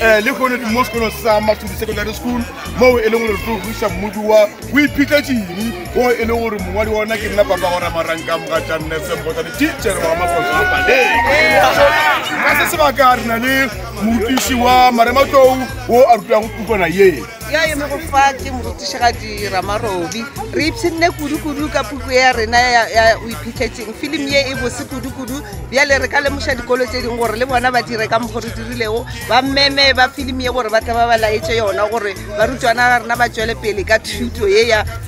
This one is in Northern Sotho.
um le gone ke mo sekolong sa matshodi secondary school moo e leng gore tlo busa mmodi wa o iphitlha tšini o e leng gore mongwadi wa ona ke nna papa gora maranka moga jannesebota le teachere wa makoso a paleng ga se sebaka re na le morutiši wa marematlou o a rutago pukwana yee yo a emego fa ke morutišigadi ramarobi re ipshinne kudu-kudu ka puku ya rena ya o iphitlhetseng filimi ye e bose kudu-kudu bjale re ka lemoša dikolo tse dingwe gore le bona ba dire ka mokgo re dirilego ba meme ba filimi ye gore ba tla ba ba laetse yona gore barutwana ga rena ba tšwele pele ka thuto ye ya